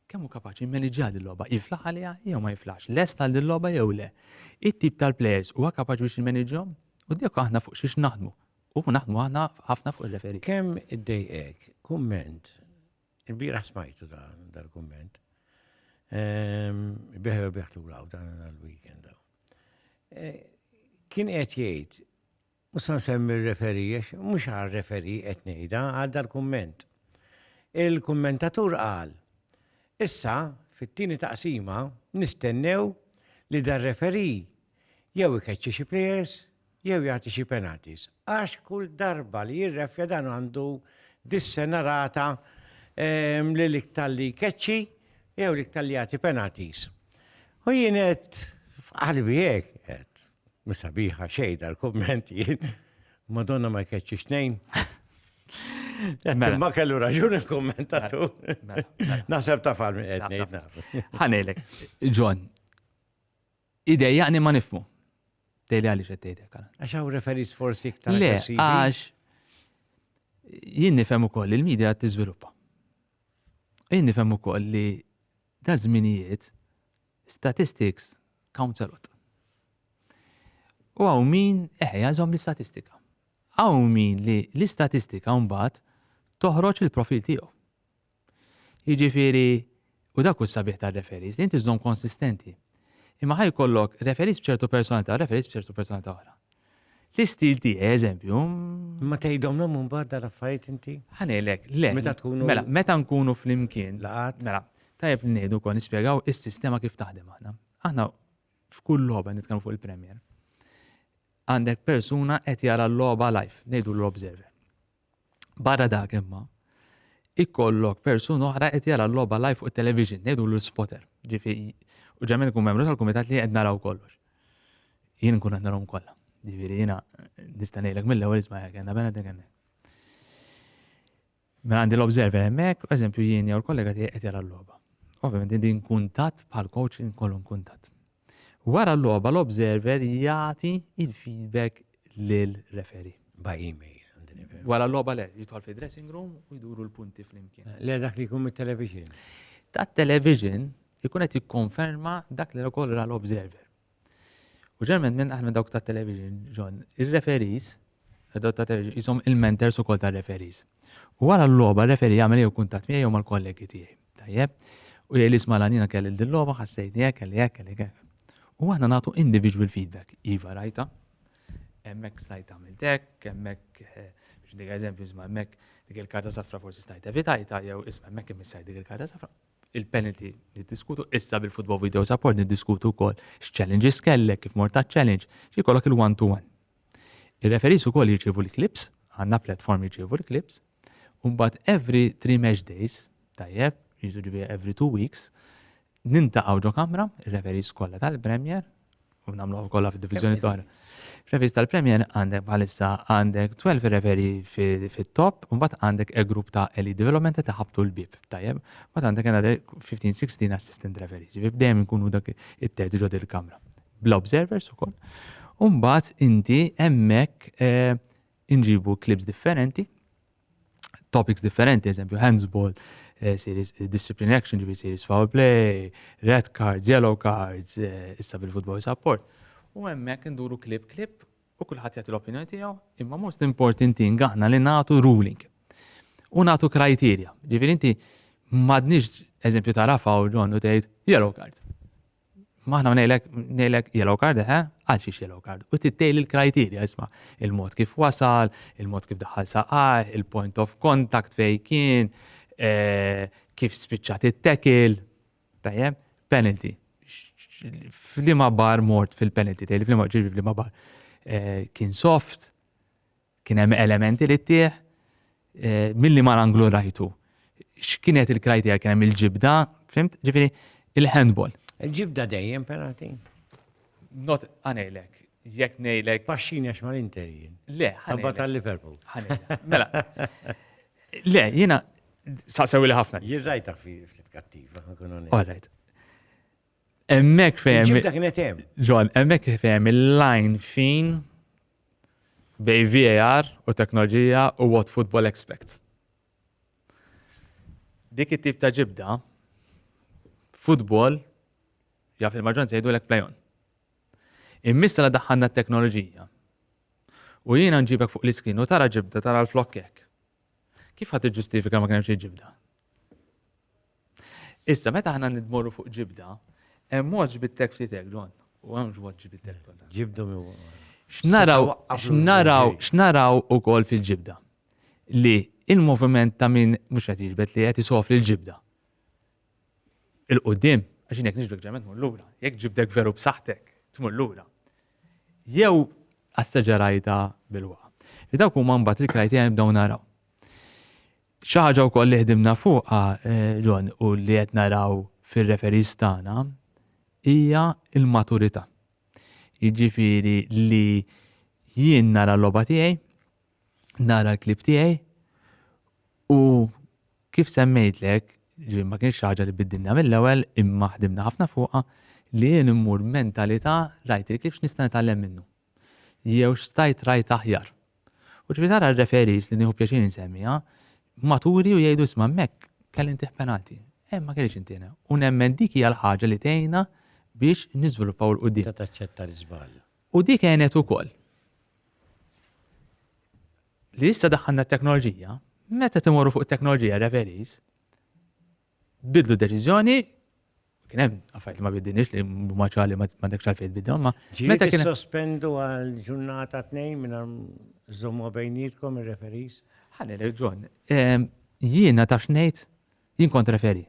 kemm hu kapaċi jimmaniġġja din logħba, jiflaħ għaliha jew ma jiflaħx, lest għal din logħba jew le. It-tip tal-players huwa kapaċi biex jimmaniġġhom? U dik aħna fuq xiex naħdmu. U naħdmu aħna ħafna fuq il-referi. Kemm id-dejqek, kumment, il-bira smajtu dal-kumment, ehm, biħew biħtu għaw dan għal-weekend. Eh, kien qed jgħid Mhux se nsemmi r-referee għax mhux għar-referee qed ngħidha, għal dal-kumment. Il-kummentatur qal, Issa, fit-tieni taqsima, nistennew li dar-referee jew ikeċċi xi plejers jew jagħti xi penalties. Għax kull darba li jirreffja dan għandu dis-sena rata li l-iktar li jkeċċi jew l-iktar li jagħti penalties. U jien qed f'qalbi hekk qed. Mhux sabiħa xejn dal-kumment jien. Madonna ma jkeċċi xnejn. Mela. Ma kellu raġun il-kommentatu. Mela, mela. Naħseb ta' fal minn qed ngħid nafas. Ħanejlek, John, idejjaqni ma nifmu. Dejli għaliex qed tgħidek għal. Għax hawn referis forsi iktar. Le, aggressivi. għax jien nifhem ukoll li l-medja qed tiżviluppa. Jien nifhem ukoll li da żminijiet Statistics counts a lot. U hawn min, eħe, jagħżhom l-istatistika. Hawn min li l-istatistika mbagħad toħroġ il-profil tiegħu. Jiġifieri, u dak hu sabiħ tar-referis, li inti żżomm konsistenti. Imma ħaj kollok referis b'ċertu personalità, referis b'ċertu personalità oħra. L-istil tiegħi eżempju. Ma tgħidhomlhom imbagħad dar affarijiet inti? Ħanejlek, le. Meta tkunu. Mela, meta nkunu flimkien. Laqat. Mela, tajjeb li ngħidu wkoll nispjegaw is-sistema kif taħdem aħna. Aħna f'kull logħba nitkellmu fuq il-Premier. Għandek persuna qed jara l-logħba live, ngħidu l-observer. Barra dak imma, ikollok persuna oħra qed jara l-logħba live fuq it-television, ngħidu l-spotter. Ġifieri, u ġemmen ikun membru tal-kumitat li qed naraw kollox. Jien nkun qed narahom kollha. Ġifieri jiena nista' ngħidlek mill-ewwel isma' jekk għandha bena dik hemmhekk. Mela għandi l-observer hemmhekk, eżempju jien jew l-kollega tiegħi qed jara l-logħba. Ovvjament din kuntatt bħal coach inkollu kuntatt. Wara l-logħba l-observer jagħti il-feedback lil referee. By email. Wara l-logħba le, jidħol fi dressing room u jduru l-punti flimkien. Le dak li jkun mit-television. Ta' television ikun qed jikkonferma dak li ukoll ra l-observer. U ġerment minn aħna dawk ta' television, John, ir-referees, ta' television, jisom il-mentors ukoll ta' referees. U wara l-logħba referee jagħmel jew kuntatt miegħi jew mal-kollegi tiegħi. Tajjeb, u jgħid isma' l-għanina kelli din logħba, ħassejni hekk, kelli hekk, kelli hekk. U aħna nagħtu individual feedback. Iva rajta, hemmhekk stajt għamilt hekk, hemmhekk eh, biex dik eżempju isma' hemmhekk dik il-karta safra forsi stajt evitajta jew isma' hemmhekk imissaj dik il-karta safra. Il-penalty niddiskutu issa bil-football video support niddiskutu wkoll x'challenges kellek kif mort ta' challenge xi jkollok il-one to one. Ir-referees ukoll jirċievu l-clips, għandna platform jirċievu l-clips, u mbagħad every three match days, tajjeb, jiġifieri every two weeks, nintaqgħu ġo kamra, ir-referees kollha tal-Premier, u nagħmluha kollha fid-diviżjoni l-oħra. Referees tal-Premier għandek bħalissa għandek 12 referi fit-top, u mbagħad għandek e grupp ta' Elite Development ta' ħabtu l-bib, tajjeb, mbagħad għandek għandek 15-16 assistant referees, ġifieri dejjem nkunu dak it-terġ ġod il-kamra. bla observers ukoll. U mbagħad inti hemmhekk eh, inġibu clips differenti, topics differenti, eżempju handsball, eh, series, eh, discipline action, ġivi series foul play, red cards, yellow cards, eh, issa bil-football support. U hemmhekk induru klip klip u kulħadd jagħti l-opinjoni tiegħu, imma most important thing aħna li nagħtu ruling. U nagħtu kriterja. Ġifieri inti m'għadniex eżempju tara fawl ġon u tgħid yellow card. Maħna ngħidlek ngħidlek yellow card eħe, għal xiex yellow card. U tittejli l-kriterja isma' il-mod kif wasal, il-mod kif daħal saqaj, il-point of contact fej kien, eh, kif spiċċat it-tekil, tajjeb, penalty. Flima bar mort fil-penalty, tgħidli flima ġibi flima bar. Eh, kien soft, Kien hemm elementi li ttieħ milli mar anglu rajtu. X'kienet il-krajtija kien hemm il-ġibda, fimt? Ġifieri il-handball. Il-ġibda dejjem penalty. Not għanejlek, jekk ngħidlek. Paxxin għax ma l-Inter jien. Le, ħabba tal-Liverpool. Mela. Le, jiena saqsew li ħafna. Jien rajta fi ftit kattiva, ħakun għanejlek. Emmek fejem. Ġibda kienet hemm. Ġon, emmek fejem il-line fin bejn VAR u teknoloġija u what football expects. Dik it-tip ta' ġibda football jaf il-maġġoranza jgħidulek play on. Immiss la daħħalna t-teknoloġija. U jiena nġibek fuq l-iskrin u tara ġibda tara l-flokkek. Kif ħa tiġġustifika ma kien hemm xejn ġibda? Issa meta aħna nidmorru fuq ġibda, hemm mod ġbittek ftitek John, u hemm mod ġbittek. Ġibdu mi X'naraw, x'naraw, x'naraw ukoll fil-ġibda. Li il-moviment ta' min mhux qed jiġbed li qed isofri l-ġibda. il-qudiem, għax jekk nixbdek ġemen tmur lura, jekk ġibdek veru b'saħħtek tmur lura. Jew asseġerajta bil-wa. Li dawk huma mbagħad il-krajtija nibdew naraw. Xi ħaġa wkoll li ħdimna fuqha eh, John u li qed naraw fir-referis tagħna hija l-maturità. Jiġifieri li jien nara l-logħba tiegħi, nara l-klib tiegħi u kif semmejtlek, ġifieri ma kienx xi ħaġa li biddilna mill-ewwel imma ħdimna ħafna fuqha li jien immur mentalità rajt il-klib x'nista' nitgħallem minnu. Jew x'stajt rajt aħjar. U ġifieri tara r-referees li nieħu pjaċir insemmiha, maturi u jgħidu isma' hemmhekk kelli ntih penalti. Hemm ma kellix intiena. U nemmen dik hija l-ħaġa li tgħinna biex niżviluppaw 'l quddiem. Taċċetta l-iżball. U dik għenet ukoll. Li issa daħħalna t-teknoloġija, meta timorru fuq it-teknoloġija referis, bidlu deċiżjoni kien hemm affarijiet ma bidinix li ma ċali ma dak xalfejn bidhom ma. Meta kien sospendu għal ġurnata tnejn minn żommu bejnietkom ir-referis. Ħalli John, jiena ta' xnejt jien kont referi.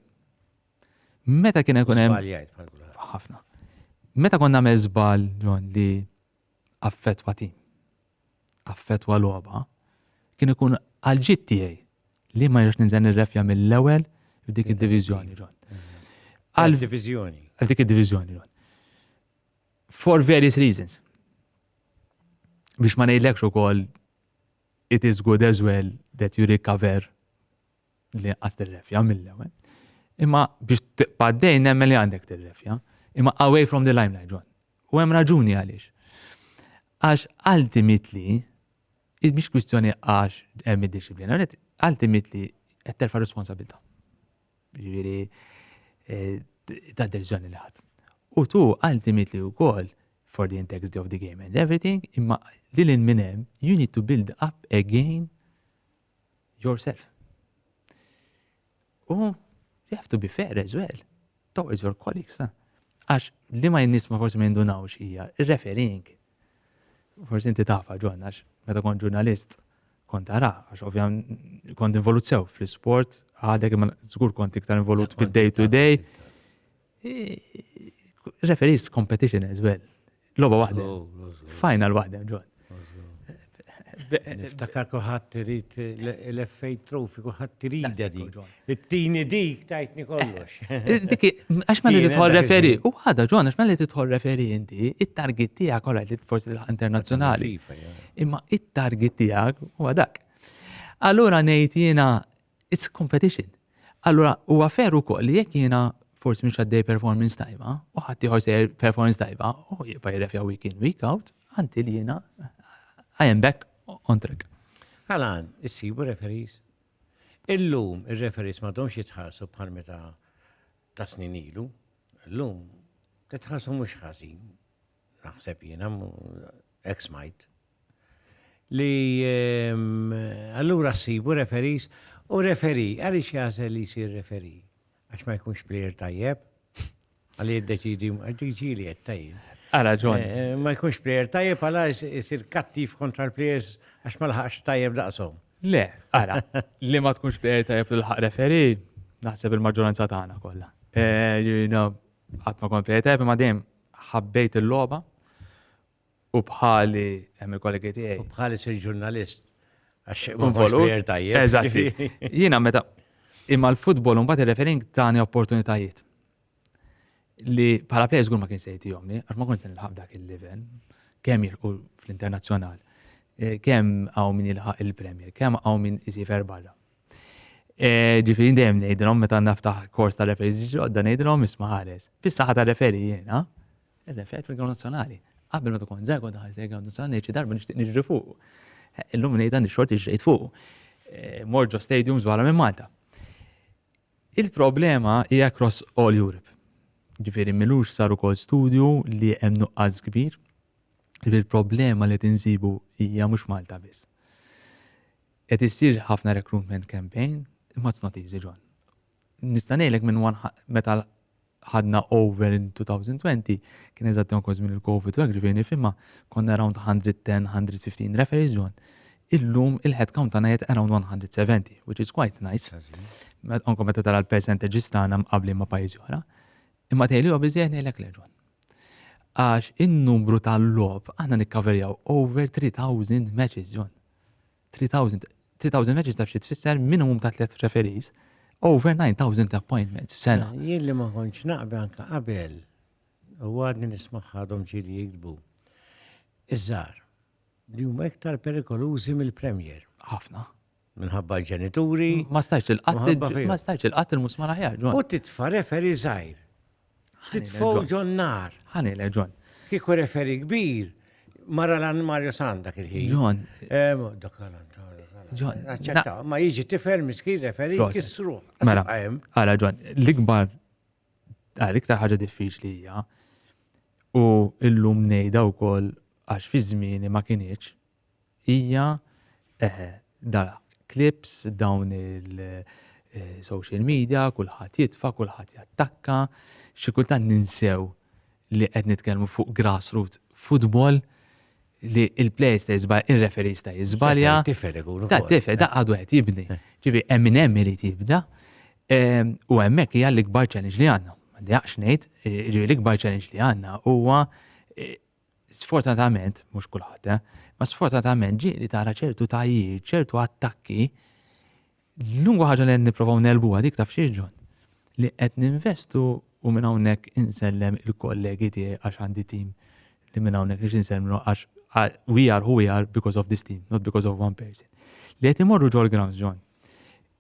Meta kien ikun hemm. Ħafna. Meta konna nagħmel żball ġon li affettwa tim, affettwa logħba, kien ikun għal-ġid tiegħi li ma jirx ninżel nirrefja mill-ewwel f'dik id-diviżjoni ġon. Għal-diviżjoni. Għal dik id-diviżjoni ġon. For various reasons. Biex ma ngħidlekx ukoll it is good as well that you recover li għas tirrefja mill-ewwel. Imma biex tibqa' dejn nemmen li għandek tirrefja. Imma away from the limelight, John. U hemm raġuni għaliex. Għax ultimately, biex kwistjoni għax hemm id-disciplina, ultimately qed terfa' responsabilta. Ġifieri eh, ta' deċiżjoni li ħadd. U tu ultimately wkoll for the integrity of the game and everything, imma li l minn hemm you need to build up again yourself. U you have to be fair as well towards your colleagues. Eh? Għax li ma jinnis ma forsi ma jindunawx hija referring. Forsi inti tafa ġon, għax meta kont ġurnalist kont tara, għax ovvjament kont involut sew fl-sport, għadek ma żgur kont iktar involut fil-day to day. Referees competition as well. Loba waħda. Final waħda, ġod. Niftakar kuħat tirit l-FA Trophy, kuħat tirit di. It-tini dik tajtni kollox. Diki, għax ma li titħol referi, u għada ġon, għax ma li titħol referi inti, it-target tija kolla li forsi l-internazjonali. Imma it-target tija u għadak. Allura nejt jena It's competition. Allura huwa veru wkoll li jekk jiena forsi mhux għaddej performance tajba u ħadd ieħor sejjer performance tajba u jibqa' jirrefja week in week out until jiena I am back on track. Għalgħan, issibu referees? Illum ir-referees m'għadhomx jitħallsu bħal meta ta' snin ilu. Illum titħallsu mhux ħażin. naħseb jiena, ex smajt, li ehm, allura ssibu referis u referi, għaliex jażel li jsir referi? Għax ma jkunx plejer tajjeb, għalli jiddeċidi, ġili qed tajjeb. Għala ġon. Eh, eh, ma jkunx plejer tajjeb għala jsir kattiv kontra l-plejers għax ma laħax tajjeb daqshom. Le, għala, li ma tkunx plejer tajjeb l-ħaq referi, naħseb il-maġġoranza tagħna kollha. Eh, Qatt ma kont plejjed heavy ma dejjem ħabbejt il-logħba u bħali hemm il-kollegi tiegħi. U bħali sir ġurnalist għax ma kontx plejer tajjeb. Eżatti. Jiena meta imma l-futbol mbagħad ir-refereeing tani opportunitajiet li bħala plejer żgur ma kien se jtihomni għax ma kontx se nilħaq dak il-livell kemm jilħqu fl-internazzjonal, kemm hawn min jilħaq il-Premier, kemm hawn min isifer barra. Eh, ġifiri dejjem ngħidilhom meta naftaħ kors ta' referi ġiġi għodda ngħidilhom isma' ħares. Fis-saħħa ta' referi jiena, ir-referi fil-Ground Nazzjonali. Qabel ma tkun żegħu ta' ħares il-Ground Nazzjonali xi darba nixtieq niġri fuq. Eh, illum ngħidha nixxort iġrejt fuq. Eh, Morġo Stadiums wara minn Malta. Il-problema hija cross all Europe. Ġifieri milux sar ukoll studju li hemm nuqqas kbir. Il-problema li tinsibu hija mhux Malta biss. Qed issir ħafna recruitment campaign imma it's not easy John. Nista' ngħidlek minn meta ħadna over in 2020 kien eżatt ukoll żmien il-Covid u hekk ġifieri nifhimha konna around 110, 115 referees John. Illum il-headcount tagħna qed around 170 which is quite nice. Anke meta tara l-percentages tagħna mqabbli ma' pajjiżi oħra. Imma tgħidli huwa biżejjed ngħidlek le John. Għax in-numru tal-logħob aħna nikkaverjaw over 3000 matches John. 3000 3000 reġista xi tfisser minimum ta' tliet referees over 9000 appointments f'sena. Mela, jien li ma kontx naqbel anke qabel u għadni nismaħħadhom ġili jiktbu. Iż-żar li huma iktar perikolużi mill-Premier. Ħafna. Minħabba l-ġenituri. Ma stajx il-qatt ma stajx il-qatt il-musmar aħjar. U titfa' referi żgħir. Titfawġu n-nar. Ħani le, John. Kiku referi kbir, mara l-għan Mario San dak il-ħin. John. Eh, John. Aċċetta, ma jiġi tifel miskin referi kisru. Mela, għala John, l-ikbar, għal iktar ħaġa diffiċli hija, u illum nejda u koll għax fi żmieni ma kienieċ, Hija dar clips, dawn il-social media, kulħadd jitfa', kulħadd jattakka, xi kultant ninsew li qed nitkellmu fuq grassroot futbol li il-plejers ta' jiżbalja, ir-referee sta' jiżbalja. Tifel ikun. Ta' tifel, da' għadu qed jibni. Ġifi, hemm hemm irid jibda. U hemmhekk hija l-ikbar challenge li għandna. M'għandi x'ngħid, l-ikbar challenge li għandna huwa Sfortunatament, mhux kulħadd, eh, ma sfortunatament ġieli tara ċertu tajjir, ċertu attakki, l-lungwa ħaġa li qed nipprovaw nelbuha dik taf xieġġon. Li qed ninvestu u minn hawnhekk insellem il-kollegi tiegħi għax għandi tim li minn hawnhekk nix insellmlu għax we are who we are because of this team, not because of one person. Li qed imorru ġol grounds ġon.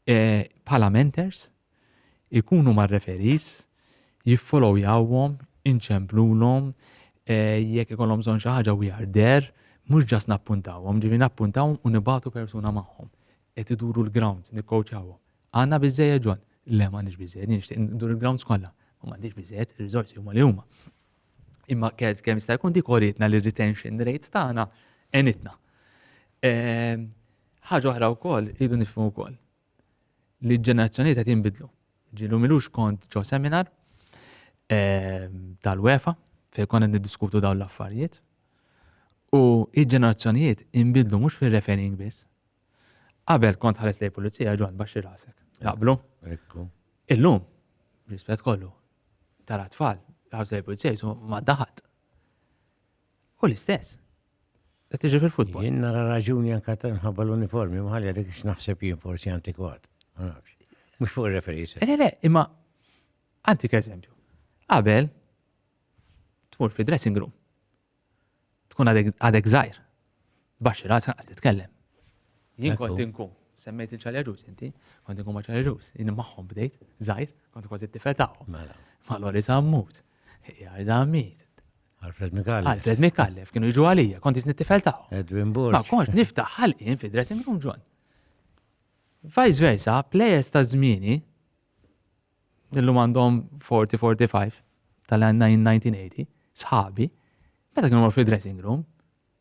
Eh, bħala mentors, ikunu mar-referees, jiffollowyawhom, inċemplulhom, jekk ikollhom bżonn xi ħaġa we are there, mhux just nappuntawhom, ġifieri nappuntawhom u nibagħtu persuna magħhom. Qed iduru l-grounds, nikkowċjawhom. Għandna biżżejjed ġol? Le m'għandniex biżżejjed, jien nixtieq ndur il-grounds kollha. Ma m'għandix biżżejjed, ir-riżorsi huma li huma. Imma kemm jista' jkun dik oritna li retention rate tagħna għenitna. Ehm, ħaġa oħra wkoll idu nifhmu wkoll. li ġenerazzjonijiet qed jinbidlu. Ġilu milux kont ġo seminar ehm, tal-UEFA fejn konna niddiskutu dawn l-affarijiet. U il-ġenerazzjonijiet inbidlu mhux fir-referring biss. Qabel kont ħares lej pulizija ġon baxxi rasek. Naqblu? Illum, rispett kollu, tara tfal, ħares lej pulizija jisu ma daħat. Hu l-istess. Qed tiġi fil-futbol. Jien nara raġuni anke nħabba l-uniformi, ma ħalli għalik x'naħseb jien forsi antikwat. Ma nafx. Mhux fuq ir-referis. Le, le, imma antik eżempju. Qabel tmur fi dressing room. Tkun għadek żgħir. Baxxi ras anqas titkellem. Jien kont inkun, semmejt il-ċalerus inti, kont inkun ma' ċalerus, jien magħhom bdejt, żgħir, kont kważi t-tifel tagħhom. Mela. Ma' Lori Zammut, Jar Zammit. Alfred Mikallef. Alfred Mikallef, kienu jiġu għalija, kont jisni t-tifel tagħhom. Edwin Burg. Ma konx niftaħ ħalqien fi dressing room ġon. Vice versa, players ta' zmini, illum għandhom 40-45 tal-1980, sħabi, meta kienu mor fi dressing room,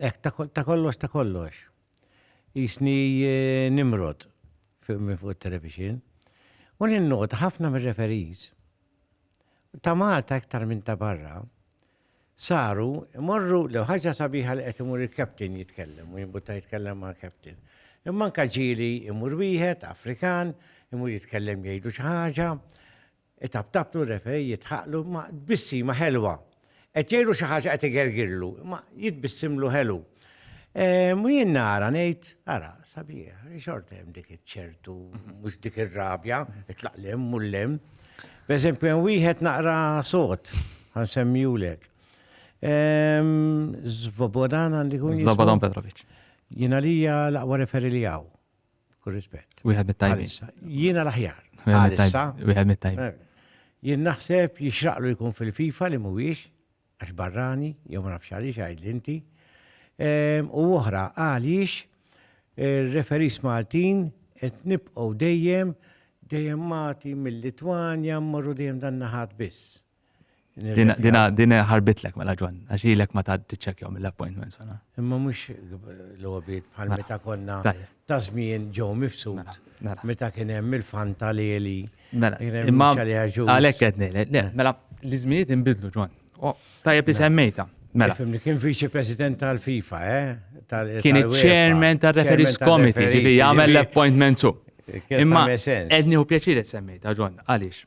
Hekk ta' kollox ta' kollox. Jisni eh, nimrod minn fuq it-television. U ninnota ħafna mir-referees ta' Malta iktar minn ta' barra saru morru l ħaġa sabiħa li qed imur il-captain jitkellem u jimbutta jitkellem ma' captain. Imma anka ġieli imur wieħed Afrikan, imur jitkellem jgħidu xi ħaġa, Itabtablu r-referee jidħaqlu ma' tbissima ħelwa. Qed jgħidlu xi ħaġa qed igergirlu, imma jitbissimlu ħelu. Ehm, u jien nara ngħid, ara, sabiħ, xorta hemm dik iċ-ċertu, mhux dik ir-rabja, itlaq lem u lem. B'eżempju hemm wieħed naqra sod, ħansemmijulek. Ehm, Zvobodan għandi kun. Zvobodan Petrovic. Jien għalija l-aqwa referi li hawn. Kull rispett. Wieħed mit-tajbin. Għalissa. Jiena l-aħjar. Wieħed Għalissa. mit-tajbin. Wieħed mit-tajbin. Eh, Jien naħseb jixraqlu jkun fil-FIFA li mhuwiex għax barrani jew ma nafx għaliex għidli inti. Ehm, U oħra għaliex ir-referis Maltin qed nibqgħu dejjem dejjem Malti mill-Litwanja mmorru dejjem dan naħat biss. Dina dina ħarbitlek mela ġwan, għax ilek ma ta' tiċċekjaw mill-appointments għana. Imma mux l-għobit bħal mela. meta konna ta' żmien ġew mifsud. Mela, mela. Meta kien hemm il-fanta li li. Mela, imma għalek għedni, eh. mela l-izminiet imbidlu ġwan. Tajjeb li semmejta. Mela. Fimni kien viċi president tal-FIFA, eh? Kien il-chairman tal-referees committee, ġivi jgħamil l-appointment su. Imma, edni u pjaċir semmejta ġwan, għalix.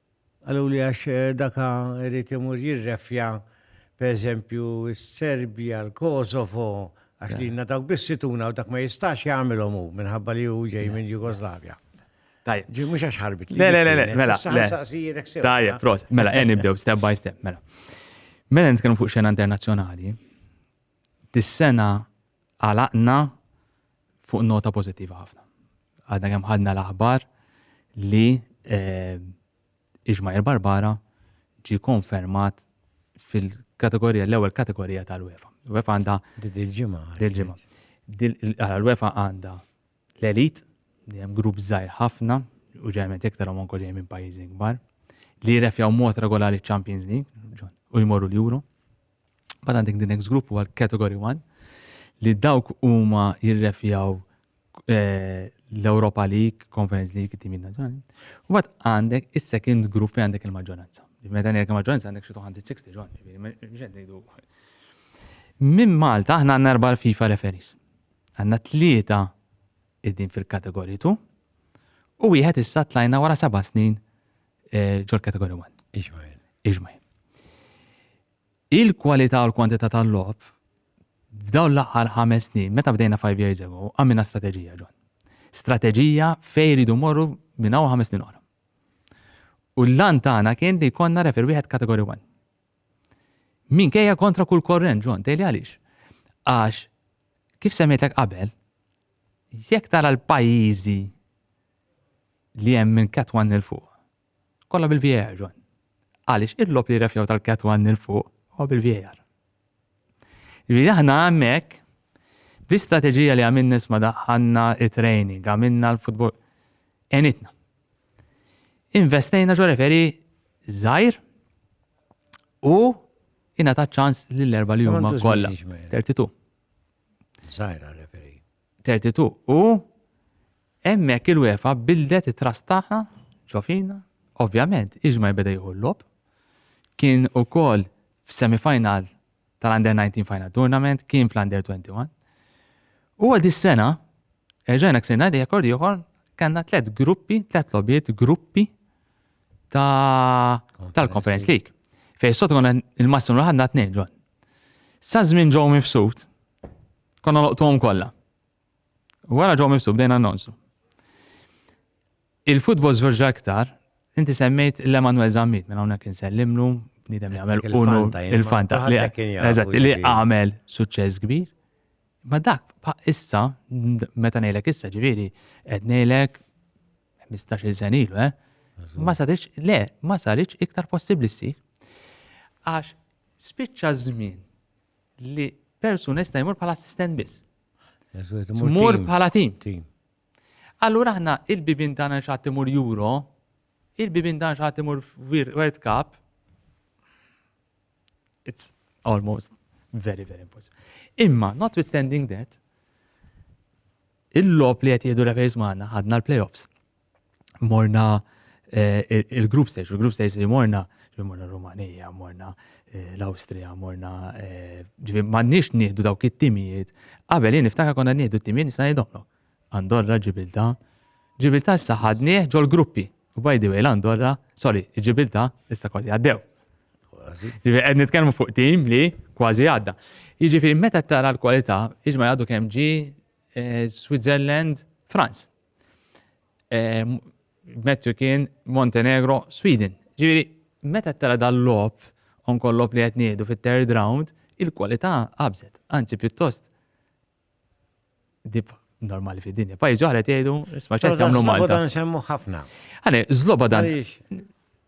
Qaluli għax daka irid imur jirrefja pereżempju s-Serbja, l-Kosovo, għax lilna dawk biss ituna u dak ma jistax jagħmilhom hu minħabba li hu ġej minn Jugoslavja. Tajjeb. Ġi mhux għax ħarbit. Le, le, le, mela. Tajjeb, prost. Mela, e nibdew step by step, mela. Mela nitkellmu fuq xena internazzjonali, Dis-sena għalaqna fuq nota pożittiva ħafna. Għadna kemm ħadna l-aħbar li Iġmajer Barbara ġie konfermat fil-kategorija l-ewwel kategorija tal-UEFA. UEFA għandha dil-ġimgħa. Dil-ġimgħa. Għala l-UEFA għandha l-elit li hemm grupp żgħir ħafna u ġejment iktar hom anke ġej minn pajjiżi kbar li jirrefjaw mod regolari ċ-Champions League u jmorru l-Euro. Bad għandek the next group huwa l-category 1 li dawk huma jirrefjaw eh, l-Europa League, Conference League, timi nazzjonali. U bad għandek is-second group fejn għandek il-maġġoranza. Meta ngħidlek il-maġġoranza għandek xi 260 ġon, ngħidu. Minn Malta aħna għandna erba' FIFA referis. Għandna tlieta id-din fil-kategoritu u wieħed issa tlajna wara seba' snin eh, ġol kategorija 1. Iġmajl. Iġmajl. Il-kwalità u l-kwantità tal-lob f'daw l-aħħar ħames snin, meta bdejna 5 years ago, għamilna strateġija ġon. Strateġija fej ridu morru minn hawn ħames snin oħra. U l-lan tagħna kien li konna refer wieħed kategori 1. Min kejja kontra kull korrent ġon, tejli għaliex. Għax, kif semmejtek qabel, jekk tara l-pajjiżi Li hemm minn Cat 1 'il fuq. Kollha bil-VAR, John. Għaliex il-logħob li rrefjaw tal-Cat 1 'il fuq huwa bil-VAR. Jiġifieri aħna hemmhekk bl-istrateġija li għamilna nisma' daħħalna it-training, għamilna l-futbol enitna. Investejna ġo referi żgħir u jina ta' ċans lill-erba li huma kollha. 32. Żgħira referi. 32 U hemmhekk il-UEFA bildet it-trast tagħha ġofina, ovvjament iġma jbeda jieħu l-lob. Kien ukoll f'semifinal tal-Under 19 Final Tournament, kien fl-Under 21. U għad is-sena, erġajna ksirna li jekord ieħor, kanna tlet gruppi, tlet lobiet gruppi tal-Conference League. Fej sot għonna il-massimu l-ħadna t-nejn ġon. Sa' żmien ġew mifsud, Konna loqtuhom kollha. Wara ġew mifsu bdejna nonsu. Il-futbol żverġa iktar, inti semmejt l-Emanuel Zammit minn hawnhekk insellimlu, bniedem jagħmel unu il-fanta li għamel suċċess kbir. Ma dak issa, meta ngħidlek issa ġifieri, qed ngħidlek 15-il sen ilu, eh? Ma sarix, le, ma sarix iktar possibbli ssir. Għax spiċċa żmien li persuna jista' jmur bħala assistent biss. Tmur bħala tim. Allura aħna il-bibin tagħna xatt imur Euro, il-bibin tagħna xatt imur World Cup. It's almost very, very impossible. Imma, notwithstanding that, Il-logħob li qed jieħdu referees magħna ħadna l-playoffs. Morna eh, il-group stage, il-group stage li morna, ġifieri morna Rumanija, morna eh, l-Awstrija, morna eh, ġifieri m'għandniex nieħdu dawk it-timijiet. Qabel jien niftakar konna nieħdu t-timijiet nista' ngħidhomlok. Andorra, Ġibilta, Ġibilta issa ħadnieh ġol-gruppi, By the way, l-Andorra, sorry, ġibilta, issa kważi għaddew. Ġifieri qed nitkellmu fuq tim li kważi għadda. Jiġifieri meta tara l-kwalità, iġma għadu kemm ġi eh, Switzerland, France. Eh, Mettu kien Montenegro, Sweden. Ġifieri meta tara dal-lob onkollop li qed ngħidu fit-third round, il-kwalità qabżet, anzi pjuttost dib normali fi dinja. Pajjiżi oħra tgħidu, isma' ċert jagħmlu Malta. Zlobodan nsemmu ħafna. Għane, Zlobodan.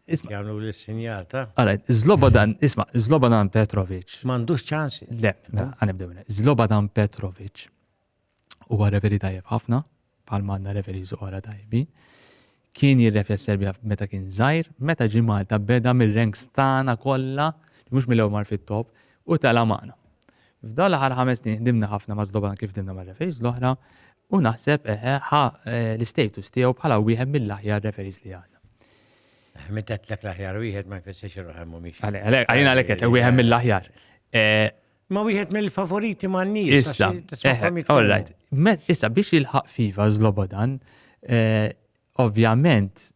Jagħmlu l-sinjal ta'. Għale, Zlobodan, isma' Zlobodan Petrovic. M'għandux ċans. Le, mela, għanibdew. Zlobodan Petrovic huwa reveri tajjeb ħafna. bħal m'għandna referees oħra tajbi. Kien jirrefja s-Serbja meta kien żgħir, meta ġie Malta beda mir-ranks tagħna kollha, mhux mill-ewwel mar fit-top, u tela' magħna. F'dawn l-aħħar ħames snin ħdimna ħafna ma' Slobodan kif ħdimna ma' referees l-oħra u naħseb eħe ħa eh, l-istatus tiegħu bħala wieħed mill-aħjar referees li għandna. Meta tlek l-aħjar wieħed ma jfissirx il-raħem mhumiex. Għalina għalek qed wieħed mill-aħjar. Eh, Ma wieħed mill-favoriti ma' nies. Issa, eh, all right. Issa biex jilħaq fiva zlobodan, eh, ovvjament,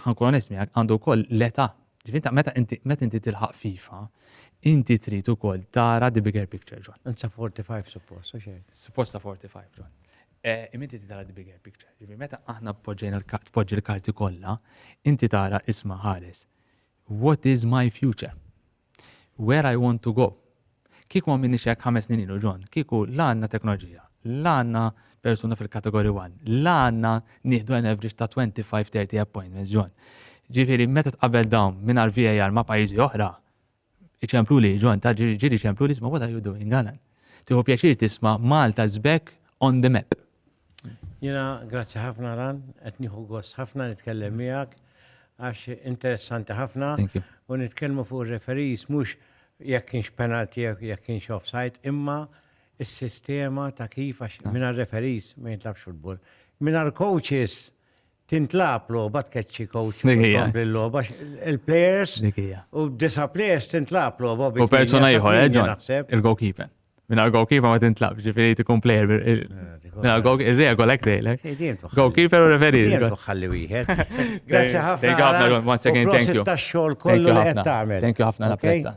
ħankun onest miegħek għandu wkoll l-età. Ġifinta, meta inti tilħaq fifa, inti trid ukoll tara the bigger picture, John. Insa 45 suppost, Supposta 45, John. Eh, Iminti ti tara the bigger picture. Ġifi, meta aħna poġġi l-karti kollha, inti tara isma ħares. What is my future? Where I want to go. Kieku ma minniex hekk ħames snin ilu John, kieku la għandna teknoloġija, la għandna persuna fil-category 1, la għandna nieħdu an average ta' 25-30 appointments John. Ġifieri meta tqabel dawn mingħajr VAR ma' pajjiżi oħra, iċemplu li John ta' ġieli ċemplu li isma' what are you doing Alan? Tieħu pjaċir tisma' Malta żbek on the map. Jiena grazzi ħafna Ran, qed nieħu gost ħafna nitkellem miegħek għax interessanti ħafna u nitkellmu fuq ir-referees mhux jekk kienx penalty jekk kienx offside imma is-sistema ta' kif għax mingħajr referees ma jintlabx futbol. Mingħajr coaches tintlab logħba tkeċċi coach tkompli l-logħba il-players u disa players tintlab logħba u persona ieħor eh, il-goalkeeper. Minna goalkeeper ma tintlab, ġifieri tkun player eh, il-regola hekk dejlek. Goalkeeper u referi. Ħalli wieħed. Grazzi ħafna. Thank you ħafna, once again, thank you. Thank you ħafna, napprezza.